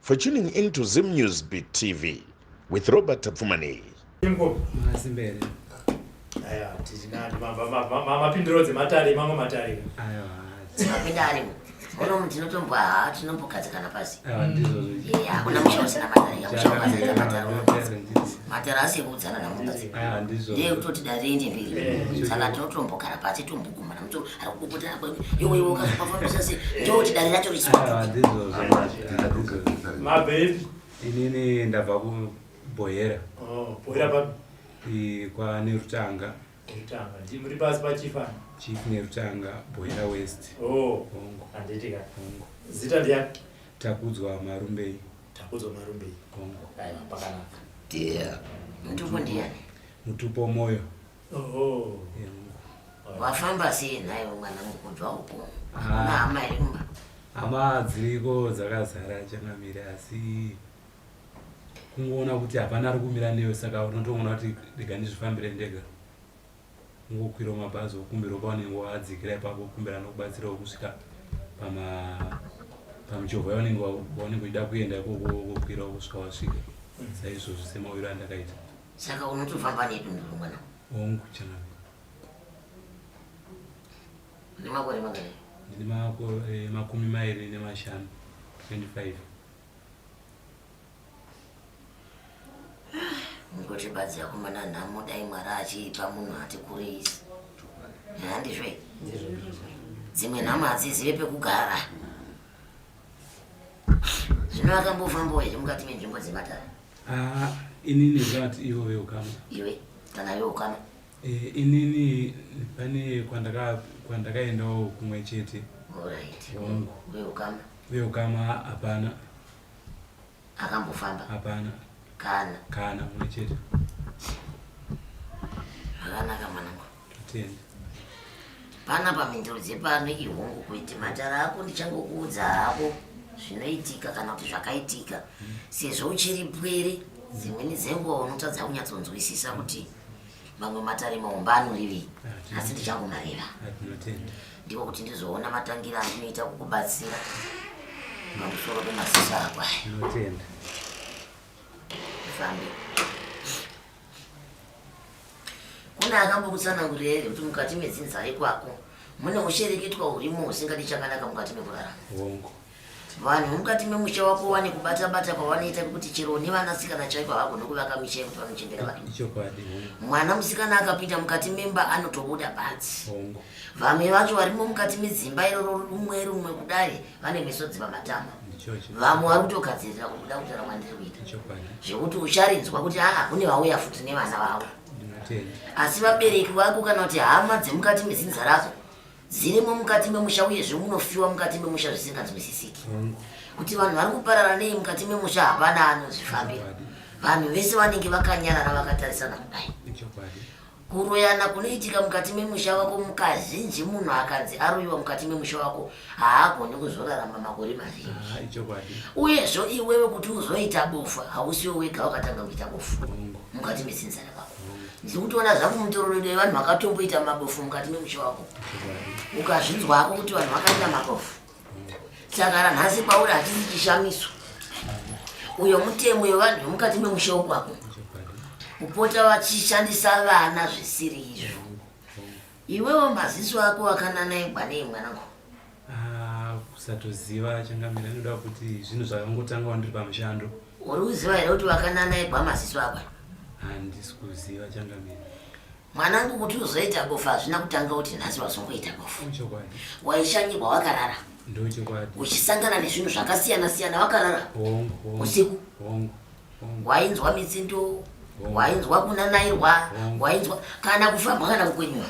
For tuning in to Zim News Beat TV with Robert Tapfumani. mapindiro dzematare mamwe matare Ono mntu inotombwa haa tinombogadzikana pasi. Hakuna musha usina matare. Yakusha ukazadza matare unogadzika. Matare asi ekuudzana namukadzi. Ndiye kutoti dare ende mberi. Saka tinotombogara pasi tombo inini ndabva kubohera oh, kwane rutanga chief nerutanga bohera west oh, zita ndiya takudzwa marumbei takudzwa marumbei mutupo moyo wafamba sei nhaiwo mwana mukudzwa uko ah. na hama iri kumba hama dziriko dzakazara changamire asi kungoona kuti hapana ari kumira newe saka unotoona kuti rega ndizvifambire ndega ungokwira mabhazi okumbira paunenge wadzikira ipapo kumbira nokubatsirawo kusvika pama pamuchovha yaunenge waunenge uchida kuenda ikoko wokwirawo kusvika wasvika saizvozvo semawiro andakaita Saka unotofamba nedunduru mwana? Hongu chanangu. Une makore mangani? Ndine makore eh, makumi mairi nemashanu 25. Ngoti badzi yako mwana nhamo dai mwari achiipa munhu ati kurisi. Handizvo here? Dzimwe nhamo hadzizive pekugara. zvino akambofambawo here mukati menzvimbo dzematare ah, inini zvat ivo veukama iwe kana veukama eh, inini pane kwandakaendawo kumwe chete veukama hapana akambofamba hapana kana kana mwe chete zvakanaka mwanangu totenda pana pamhinduro dzepano ihongu kuiti matara ako ndichangokuudza hako zvinoitika kana kuti zvakaitika mm. sezvo uchiri pwere dzimweni dzenguva unotadza kunyatsonzwisisa kuti mamwe matare maumba anorivei ah, asi ndichangomareva ah, ndiko kuti ndizoona matangiro andinoita kukubatsira pamusoro pemasisa ako aya ndinotenda fambe kune akambokutsanangurira here kuti mukati medzinza rekwako mune ushereketwa hurimo husingadi chakanaka mukati mekurarama hongu Vanhu vemukati memusha wako wane kubata bata kwavanoita kuti chero nevana sikana chaiko havagone kuvaka misha yekuti vanochembera vanhu. Ichokwadi. Mwana musikana akapinda mukati memba anotobuda panzi. Vamwe vacho varimo mukati medzimba iroro rumwe rumwe kudare vane misodzi pamatama. Vamwe vari kutogadzirira kubuda kutaura kwandiri kuita. Zvekuti ucharinzwa kuti aa kune vauya futi nevana vavo. Asi vabereki vako kana kuti hama dzemukati mezinza rako dzirimo mukati memusha uyezve munofiwa mukati memusha zvisinganzwisisiki kuti vanhu vari kuparara nei mukati memusha hapana anozvifambira vanhu vese vanenge vakanyarara vakatarisana kudai kuroyana kunoitika mukati memusha wako mukazhinji munhu akanzi aroyiwa mukati memusha wako haagoni kuzorarama makore mazhinji ah, uyezvo iwewe kuti uzoita bofu hausiwo wega wakatanga kuita bofu mukati mesinzara vako ndiri kutoona zvangu mutororero yevanhu vakatomboita mabofu mukati memusha wako ukazvinzwa hako kuti vanhu vakaita mabofu saka ranhasi kwauri hachisi chishamiso uyo mutemo wevanhu vemukati memusha wokwako kupota vachishandisa vana zvisiri izvo Iwewo maziso ako akananaigwa nei mwanangu? Ah, kusatoziva changamira inoda kuti zvinhu zvakangotanga wandiri pamushando. Uri kuziva here kuti wakananaigwa maziso ako? Handisi kuziva changamira. Mwanangu kuti uzoita bofu hazvina kutanga kuti nhasi wazongoita bofu. Chokwadi. Waishanyirwa wakarara. Ndochokwadi. Uchisangana nezvinhu zvakasiyana siyana wakarara. Hongu. Usiku. Hongu. wainzwa mitsindo wainzwa kunanairwa wainzwa kana kufamba kana kukwenywa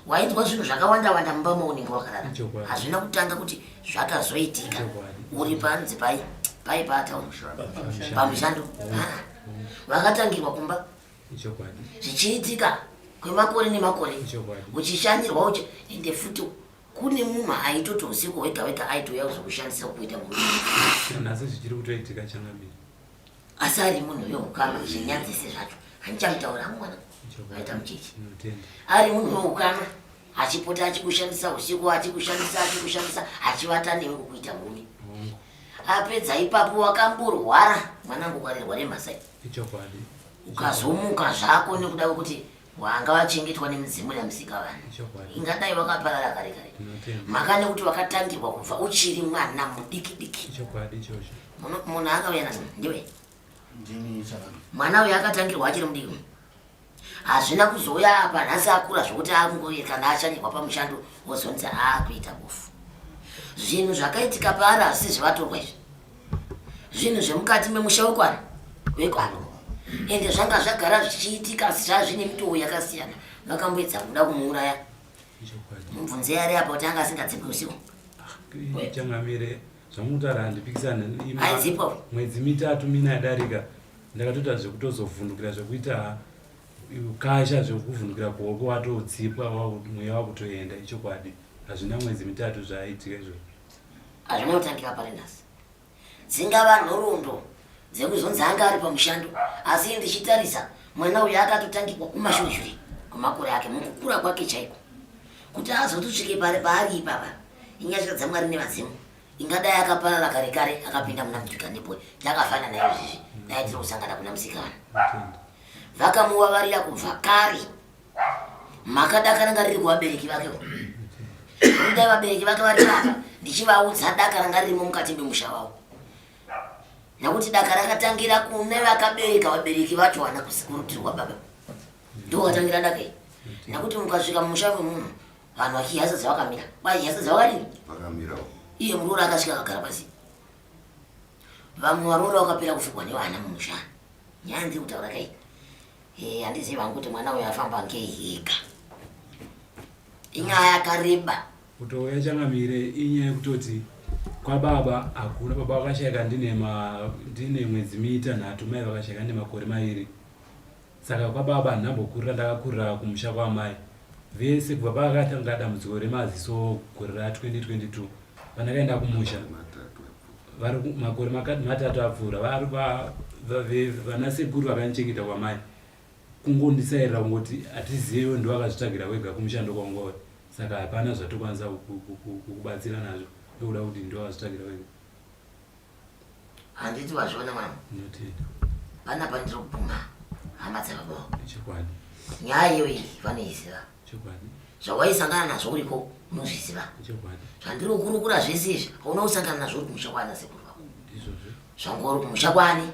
wainzwa zvinhu zvakawanda wanda mumba maunenge wakarara hazvina kutanga kuti zvakazoitika uri panzi pai pai pata pamushando vakatangirwa kumba zvichiitika kwemakore nemakore uchishanyirwa uchi ende futi kune munhu aitoti usiku wega wega aitouya kuzokushandisa kuita murumeasi zvichiri kutoitika changamiri asi ari munhu weukama zvinyadzise zvacho handichamutaura mwana aita muchechi ari munhu weukama achipota achikushandisa usiku achikushandisa achikushandisa achivata newe kukuita murume apedza ipapo wakamborwara mwanangu kwarirwa remhasai ukazomuka zvako nekuda kwekuti Wanga wachengetwa nemidzimu yaMusikavanhu. Ingadai wakaparara kare kare. Maka nekuti wakatangirwa kubva uchiri mwana mudiki diki. Munhu akauya nazvo ndiwe. Mwana uyu akatangirwa achiri mudiki. Hazvina kuzouya apa nhasi akura zvokuti akungoye kana achanirwa pamushando wozonzi aakuita bofu. Zvinhu zvakaitika paari hazvisi zvivatorwa izvi. zvinhu zvemukati memusha wekwani wekwani ende zvanga zvagara zvichiitika asi zvazvine mitowo yakasiyana makamboedza kuda kumuuraya mubvunze yari apa kuti anga asingadzipwe usiku changamire zvamutaura handipikisana aizipo mwedzi mitatu mina yadarika ndakatoita zvekutozovhundukira zvekuita kasha zvekuvhundukira kuhoko watodzipwa mweya wakutoenda ichokwadi hazvina mwedzi mitatu zvaaitika izvozvo Hazvina kutangira pari nhasi. Dzingava nhoroondo dzekuzonzi anga ari pamushando asi ndichitarisa mwana uyu akatotangikwa kumashonjuri kwemakore ake mukukura kwake chaiko kuti azotusvike pari paari ipapa inyasha dzamwari nevadzimu ingadai akaparara kare kare akapinda muna mudhika nepo takafana nayo izvizvi dai tiri kusangana kuna musikana vakamuvavarira kubva kare makada kana ngariri kuvabereki vake kudai vabereki vake vataka ndichivaudza daka ranga ririmo mukati memusha wavo nekuti daka rakatangira kune vakabereka vabereki vacho vana kusikurutirwa baba ndo vatangira daka iri nekuti mukasvika mumusha memunhu vanhu vachihasa dzavakamira kwai hasa dzavakadini iye muruona akasvika akagara pasi Vamwe varoora wakapera kufugwa nevana mumusha. Nyaya ndiri kutaura kai? Eh, handizivi hangu kuti mwana uyo afamba ngei higa. Inyaya yakareba. Kutouya changamire inyaya yekutoti kwababa hakuna baba vakashaika ndine ma ndine mwedzi mitanhatu mai vakashaika ndine makore maviri. Saka kwababa handina mbokurira ndakakurira kumusha kwaamai vese kubva pakatanga dambudziko remaziso gore ra 2022 pandakaenda kumusha vari makore matatu apfuura vari vana sekuru vakandichengeta kwamai kungondisairira kungoti hatizive ndo vakazvitsvagira kwega kumushando kwangori saka hapana zvatokwanisa kukubatsira nazvo ndokuda kuti ndo vakazvitsvagira kwega handiti vazviona mama panapa ndiri kubvuma hama dzevabao nyaya iyo iyi vanoiziva zvawaisangana nazvo uriko unozviziva zvandiri kukurukura zvese izvi hauna kusangana nazvo uri kumusha kwana sekuru vako zvangori kumusha kwani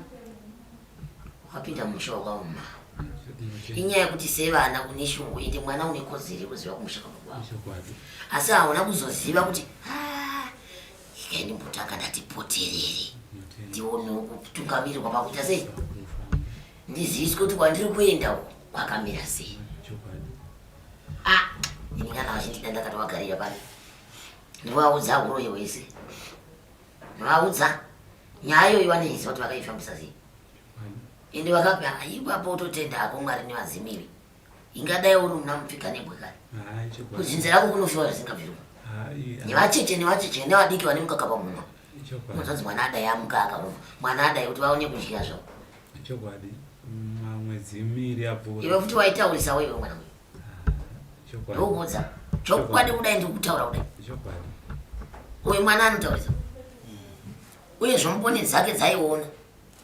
wapinda musha wakaoma inyaya yekuti sevana une shungu ende mwana une kodzero yekuziva kumusha kwako asi hauna kuzoziva kuti ah, Ikai ndimbotanga ndati poterere ndionewo kutungamirirwa pakuita sei ndiziviswe kuti kwandiri kuenda uko kwakamira sei ah, ini kana vachindida ndakatovagarira pano ndivaudza uroyi hwese ndivaudza nyaya iyoyi vaneiziva kuti vakaifambisa sei ende vakapi ipapo utotenda hako mwari nevazimiri ingadai uri una mupfika nebwe kani kuzinze rako kunofiwa zvisingabvirwa nevacheche nevacheche nevadiki vane mukaka pamunwa unozvanzi mwana adai amuka akarova mwana adai kuti vaone kudya zvavo chokwadi mamwedzi miri apfuura iwe futi waitaurisawo iwe mwana uyu ndokuudza chokwadi kudai ndiri kutaura kudai uyu mwana anotaurisa uye zvomuponi dzake dzaiona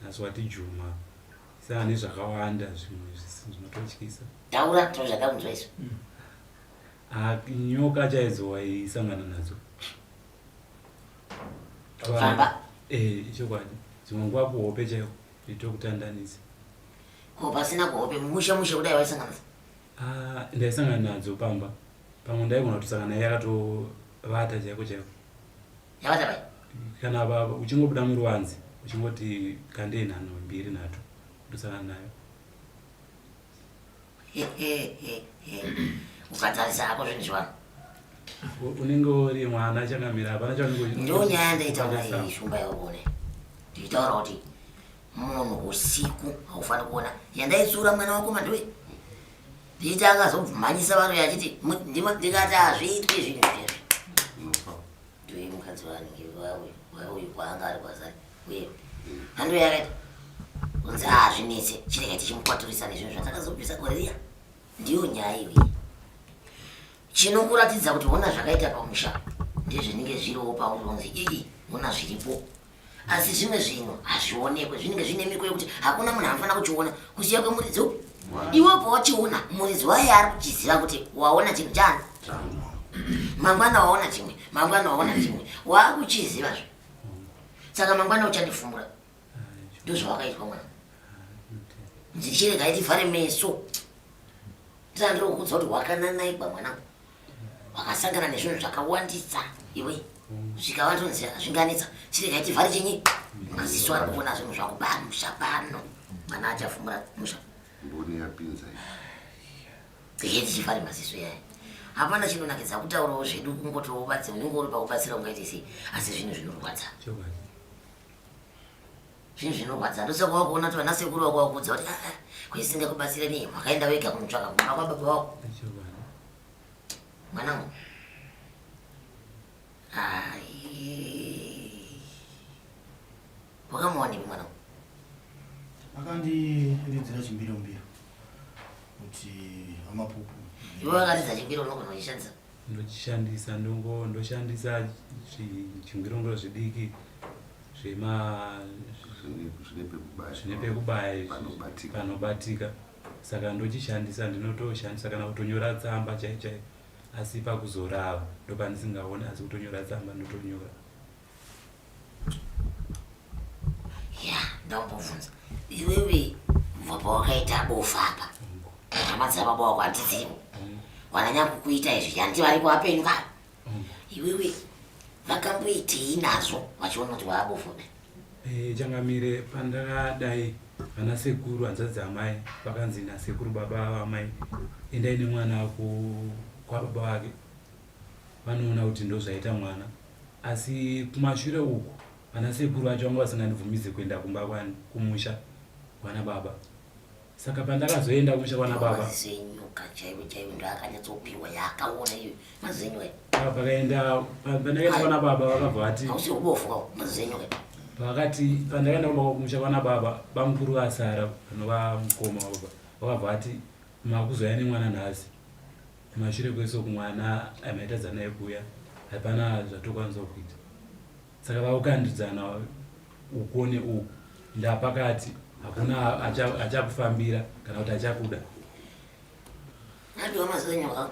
nhasi wati juma saa nezvakawanda zvimwe zvinototyisa taura tino zvatakunzwa isu mm. ah, nyoka chaidzo waisangana nadzo famba eh, chokwadi dzimwe nguva kuhope chaiwo itokutandanisa ko pasina kuhope mushe mushe kudai waisanganisa ah, ndaisangana nadzo pamba pamwe ndaigona kutusangana yakatovata chaiko chaiko yavachava kana baba uchingobuda muruwanzi uchingoti kandei nhano mbiri nhatu ndosana nayo ukatarisa ako zvinhu zvivanhu unenge uri mwana changamira hapana chaunengendo nyaya ndaitaura iyi shumba yaone ndiitaura kuti munhu usiku haufaniri kuona yandaitsura mwana wako mandiwe ndiita akazobvumanyisa vano yachiti ndikati hazviitwi zvinhu ndiwe mukadzi wange wawe wauyu kwaanga ari kwazari uye hando yakaita kunzi hazvinetse ah, chirega tichimukwaturisa nezvinhu zvatakazobvisa koriya ndiyo nyaya iyoyi chinokuratidza kuti hona zvakaita pamusha ndezvinenge zviriwo paunonzi ii hona zviripo asi zvimwe zvinhu hazvionekwe zvinenge zvine miko yekuti hakuna munhu anofanira kuchiona kusiya kwemuridzi upi iwe ubva wachiona muridzi waye ari kuchiziva kuti waona chinhu chani mangwana waona chimwe mangwana waona chimwe waakuchiziva zve saka mangwana uchandifumbura ndozvawakaitwa mwana ndichirega itivhare meso tandiri kukuudza kuti wakananaikwa mwanangu wakasangana nezvinhu zvakawandisa iwe svika watonzi zvinganetsa chirega chivhari chenyi maziso ari kuona zvinhu zvakuba musha pano mwana achafumura musha mboni yapinza heti chivhari maziso yaye hapana chinonakidza kutaurawo zvedu kungotobatsira unenge uri pakubatsira ungaite sei asi zvinhu zvinorwadza Zvinhu zvinorwadza ndotsaka wakuona kuti vana sekuru wako wakuudza kuti ah, ah, kuisinga kubatsire nii wakaenda wega kunotsvaka kumba kwababa wako mwanangu wakamuwanepi mwanangu akandiridzira chimbirombiro kuti amapupu iwe wakaridza chimbiro unogona kuchishandisa Ndochishandisa ndongo ndoshandisa zvingirongoro zvidiki zvema zvine pekubaya izvi panobatika saka ndochishandisa ndinotoshandisa kana kutonyora tsamba chaichai asi pakuzorava ndopandisingaoni asi kutonyora tsamba ndotonyora ya ndambobvunza iwewe kubva pawakaita bofu apa hama dzababa wako handidzivo wananya kukuita izvi hanti vari kuvapenyu vavo iwewe vakamboitei nazvo vachiona kuti waabofu kudai Eh, changamire pandakadai vana sekuru hanzvadzi amai vakanzi nasekuru baba vamai endai nemwana ku- kwababa vake vanoona kuti ndozvaita mwana asi kumashure uku vana sekuru vacho vanga vasingandibvumidze kuenda kumba kwani kumusha kwana baba saka pandakazoenda kumusha kwana baba pakaenda pandakaenda kwana baba vakabva vati pakati pandakaenda kumba kumusha kwana baba bamukuru vasara vanova mukoma baba vakabva vati makuzouya nemwana nhasi Kumashure kwese uku mwana amaitadza naye kuuya hapana zvatokwanisa kuita saka vakukandidzana uko neuku ndapakati hakuna achakufambira acha kana kuti achakuda andiwa mazenyu ha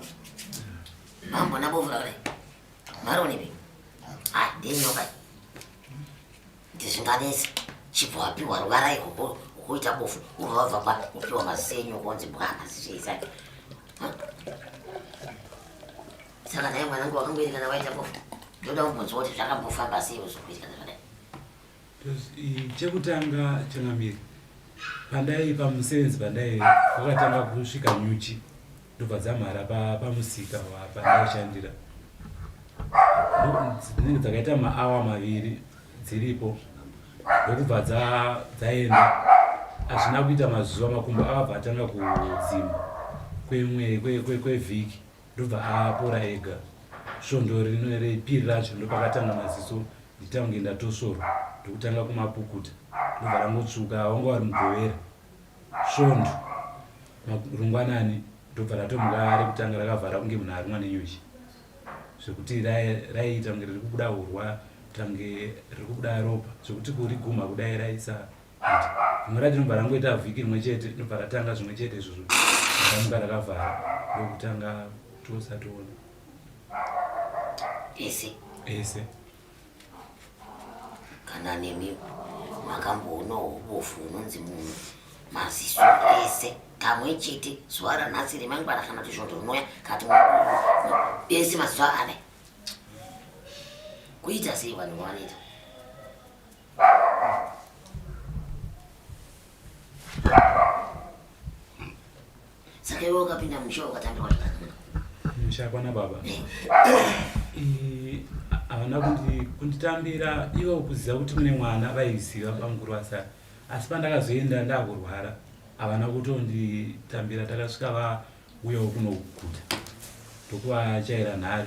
mambo nabovura kare maronivi adenyokai ah, ndizvinganese chibva wapiwa ruvara ikoko ukuita bofu ubva wabva pa upiwa mazise enyu ukonzi bwana zvichaisake saka naye mwanangu wakangoitikana waita bofu ndoda kumbonzwa kuti zvakambofamba sei uzokuitikana zvadai chekutanga changamiri pandai pamusevenzi pandai wakatanga kusvika nyuchi ndobva dzamhara pamusika pandaishandira dzinenge dzakaita maawa maviri dziripo ndokubva dzaenda hazvina kuita mazuva makumbo akabva atanga kudzima kwevhiki ndobva apora ega svondo repiri racho ndopakatanga maziso nditange ndatosvorwa ndokutanga kumapukuta ndobva rangotsvuka wanga wari mugovera Svondo rungwanani ndobva ratomuka rekutanga rakavhara kunge munhu arumwa nenyuchi zvekuti raiita kunge riri kubuda hurwa tange riri kubuda ropa zvekuti kurigumha kudai raisa rimwe racho nobva rangoita vhiki rimwe chete nobva ratanga zvimwe chete izvozvo ramuka rakavhara ndokutanga tosatoona ese ese kana nemi makamboona ubofu unonzi munhu maziso ese kamwe chete zuva ranhasi remangwana kana kuti svondo rinoya kati ese maziso ane kuita sei vanhu vanoita Saka iwe ukapinda musha ukatambira wazvakadini? Musha kwana baba. Eh, havana kunditambira ivo kuziva kuti mune mwana vaiziva bamukuru vasara asi pandakazoenda ndakurwara havana kutonditambira takasvika vauyawo kunoguta ndokuvachaira nhare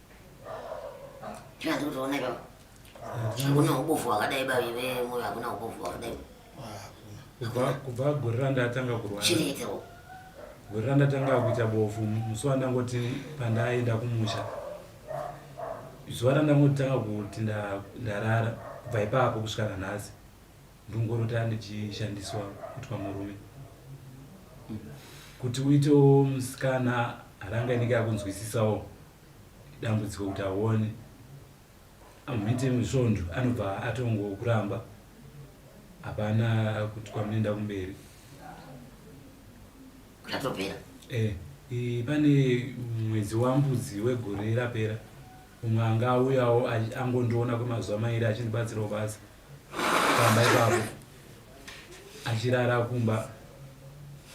Chivanzi kutoona ipapo. Hakuna ubofu wakadai bavi vemoyo hakuna ubofu wakadai. Kubva kubva gore randatanga kurwara. Chireketerwo. Gore randatanga kuita bofu musi wandangoti pandaenda kumusha. Zuva randangotanga kuti nda- ndarara kubva ipapo kusvika nanhasi. ndongorota ndichishandiswa kuitwa murume kuti uitewo musikana haranga inenge yakunzwisisawo dambudziko kuti aone amuite musvondo anobva atongokuramba hapana kuti kwamunoenda kumberi zvatopera eh, pane mwedzi wambudzi wegore rapera umwe anga auyawo angondiona kwemazuva mairi achindibatsirawo basa pamba ipapo achirara kumba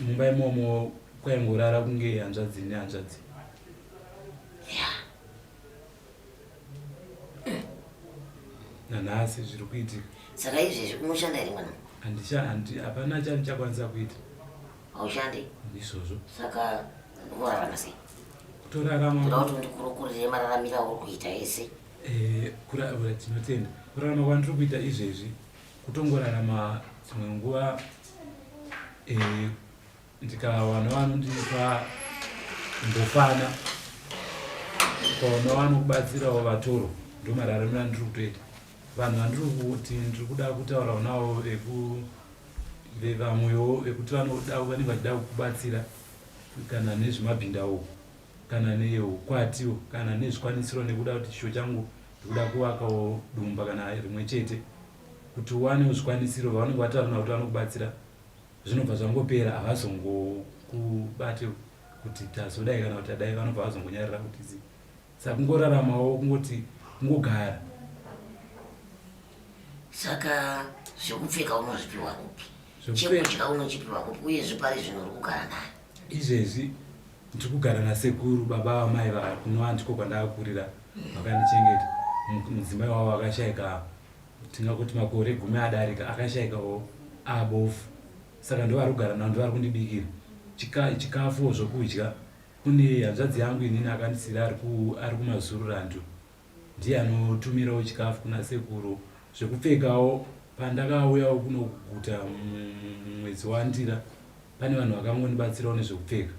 mumba imomo kwaingorara kunge hanzvadzi nehanzvadzi nanhasi zviri kuitika saka izvezvi unoshanda here mwana handishandi hapana chandichakwanisa kuita haushandi ndizvozvo saka unorarama sei kutorarama kuti ndikurokurire mararamiro auri kuita ese Eh, kurarama tinotenda kurarama kwandiri kuita izvezvi kutongorarama dzimwe nguva eh, ndikawana vanondipa mbofana ukaona vanokubatsirawo vatoro ndomararamiro andiri kutoita vanhu vandiri kuti ndiri kuda kutaurawo navo vevamwewo vekuti vanoda vanenge vachida kukubatsira kana nezvemabhindawo kana neukwatiwo kana nezvikwanisiro nekuda kuti chishuwo changu ndikuda kuvakawo dumba kana rimwe chete kuti uwane zvikwanisiro vavanenge vatarana kuti vanokubatsira zvinobva zvangopera havazongokubate kuti tazodai kana kuti adai vanobva vazongonyarira kuti zi saka kungoraramawo kungoti kungogara saka zvekupfeka unozvipiwa kupi chekudya unochipiwa kupi uye zvipari zvinhu uri kugara nayo Izvezvi ndiri kugara nasekuru baba vamai vavo kunova ndiko kwandakakurira vakandichengeta mudzimai wavo akashaika tingakuti makore gumi adarika akashaika o abofu saka ndovari kugara navo ndovari kundibikira chikafuwo zvokudya kune hanzvadzi yangu inini akandisiira ari kumazururando Ndiye anotumirawo chikafu kuna sekuru zvekupfekawo pandakauyawo kuno kuguta mumwedzi waNdira pane vanhu vakangondibatsirawo nezvekupfeka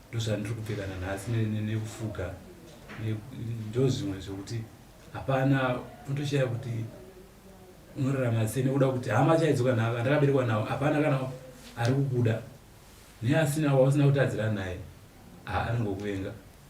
ndozvandiri kupfeka nanhasi nekufuga ndozvimwe zvekuti hapana unotoshaya kuti unorarama sei nekuda kuti hama chaidzoka navo andakaberekwa navo hapana kana ari kukuda neasina wausina kutadzira naye anongokuvenga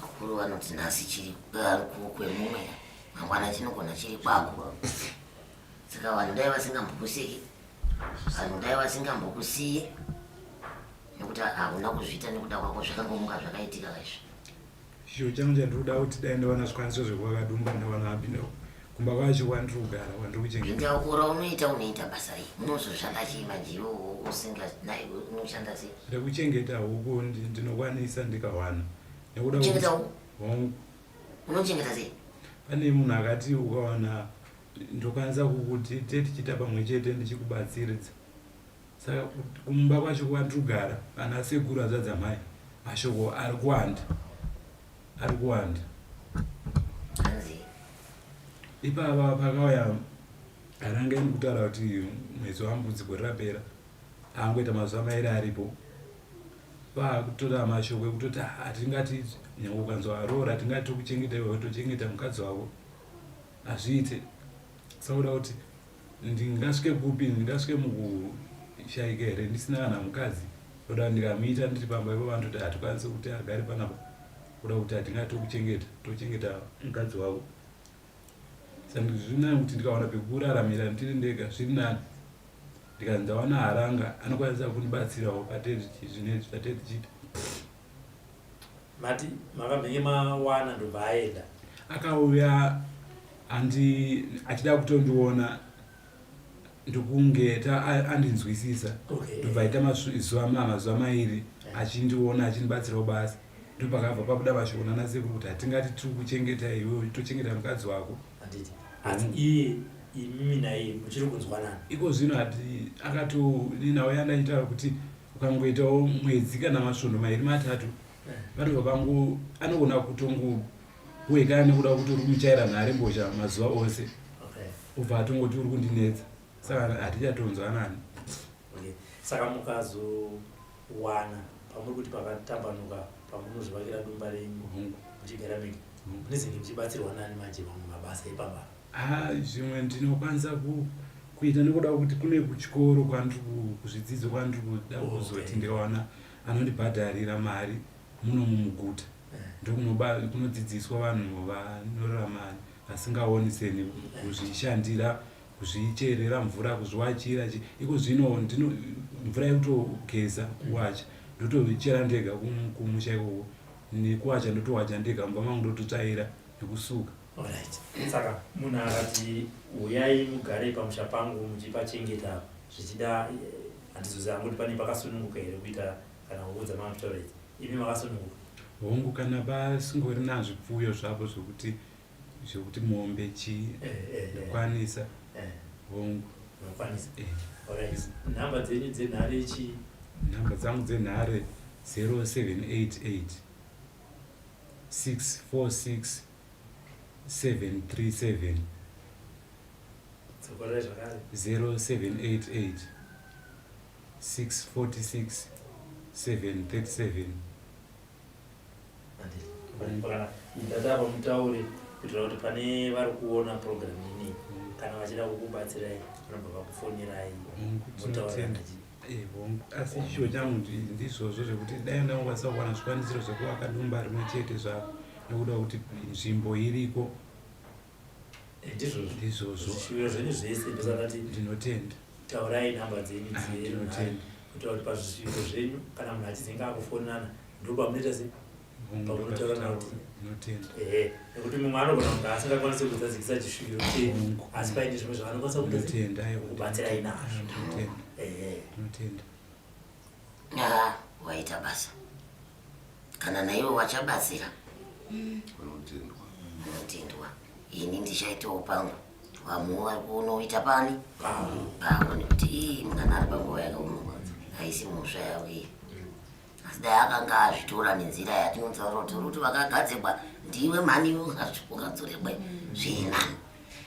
Vakuru vanoti nhasi chiri kwemumwe mangwana chinogona chiri kwako saka vanhu dai vasingambokusiki vanhu dai vasingambokusiyi nekuti hauna kuzviita nekuda kwako zvakangomuka zvakaitika izvi Chishuwo changu chandiri kuda kuti dai ndawana zvikwanisiro zvekuva kadumba ndawana apindawo kumba kwacho kwandiri kugara kwandiri kuchengeta Inga ukura unoita unoita basa rei? Unozoshanda chii manje iwe u- usinga naye unoshanda sei? rekuchengeta huku ndi- ndinokwanisa ndikawana nekuda Kuchengeta kwekuti- huku? Hongu. Unochengeta sei? pane munhu akati ukawana ndokwanisa kukuti te tichiita pamwe chete ndichikubatsiridza Saka kumba kwacho kwandrugara ana sekuru azvadza mai mashoko ari kuwanda ari kuwanda ipava pakauya ananga ini kutaura kuti mwedzi wambudziko rirapera angoita mazuva mairi aripo vakutora mashoko ekutoti hatingati nyange ukanzwa aroora tingati tokuchengeta iwe tochengeta mukadzi wavo Hazviite. Sauda kuti ndingasvike kupi ndingasvike mukushaika here ndisina kana mukadzi oda ndikamuita ndiri pamba ivo vanototi hatikwanisi kuti agari panapa kuda kuti hatinga tokuchengeta tochengeta mukadzi wavo sandikuti zviri nani kuti ndikawana pekuraramira ndiri ndega zviri nani ndikanzi ndawana haranga anokwanisa kundibatsirawo patezvi zvinezvi zvatezvichiita Mati makamhenge mawana ndobva aenda. Akauya andi achida kutondiona ndokunge andinzwisisa ndobva aita mazuva mazuva mairi achindiona achindibatsirawo basa ndopakabva pakuda vashona nasekuru kuti hatingati tiri kuchengeta iwe tochengeta mukadzi wako iko zvino ati akato ninawo yanda achitaura kuti ukangoitawo mwedzi kana masvondo mairi matatu vanobva vangu anogona kutongohwekana nekuda kuti uri kumuchaira nhare mbozha mazuva ose ubva atongoti uri kundinetsa saka hatichatonzwanani saka mukazowana pamuri kuti pakatambanuka pamunozvivakira dumba renyu muchigara mega munezenge muchibatsirwa nani manje mamwe mabasa ipambaa Haa zvimwe ndinokwanisa ku kuita nekuda kwekuti kune kuchikoro kwandiri ku- kuzvidzidzo kwandiri kuda Oh, kuzoti okay. ndikawana anondibhadharira mari muno mumuguta ndokunoba- kunodzidziswa vanhu vanorarama vasingaoni seni kuzvishandira kuzvicherera mvura kuzviwachira chi- iko zvino ndino mvura yekutogeza kuwacha ndotochera ndega kum- kumusha ikoko nekuwacha ndotowacha ndega mumba mangu ndototsvaira nekusuka saka munhu akati huyai mugare pamusha pangu muchipachengeta zvichida eh, handizozi hangu kuti pane pakasununguka here kuita kana kuudza mamtoreti imi makasununguka hongu kana vasingori nazvipfuyo zvavo zvokuti zvokuti mombe chii eh, eh, ndokwanisa hongu nokwanisa nhamba dzenyu dzenhare chii nhamba dzangu dzenhare 0788 646 737 Tsokorai zvakare. 0788 646 737 Handiti. Kana ndati apa mutaure kuitira kuti pane vari kuona program ini kana vachida kukubatsirai vanobva vakufonirai Mungu motaura tinotenga. nachi- Eh, hongu asi chishuwo changu ndi- ndizvozvo zvekuti dai ndangokwanisa kuwana zvikwanisiro zvekuvaka dumba rimwe chete zvako nekuda kwekuti nzvimbo iriko Eh, ndizvozvo ndizvozvo zvishuwiro zvenyu zvese ndozvakati ndinotenda taurai nhamba dzenyu Ah, dzirunhare ndinotenda. kuitira kuti pazvishuwiro zvenyu kana munhu achizenge akufonana ndopamunoita se nekuti mumwe anogona kunge asingakwanisi kuzadzikisa chisvikiro chenyu asi paine zvimwe zvaanokwanisa kubatsirai nazvo ah, waita basa kana naiwe wachabatsira unotendwa ini ndichaitawo pangu vamwe vari kunoita pani pavo nekuti ii mwana ari panguva yakaoma aisi musva yavo iyi asi dai akanga azvitora nenzira yatinonzwa roti ruti vakagadzirwa ndiwe mhani ukadzoregwe zvina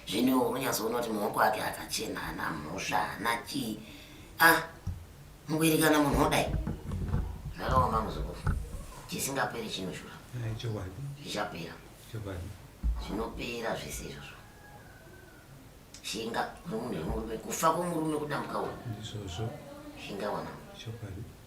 zvino iwo unonyatsoona kuti maoko ake akachena ana mhosva ana chii a ah, mukuerekana munhu odai zvakaoma muzukuru chisingaperi chinoshura zvichapera zvinopera zvese izvozvo shinga remunhu remurume kufa kwomurume kudambuka uyu shinga wana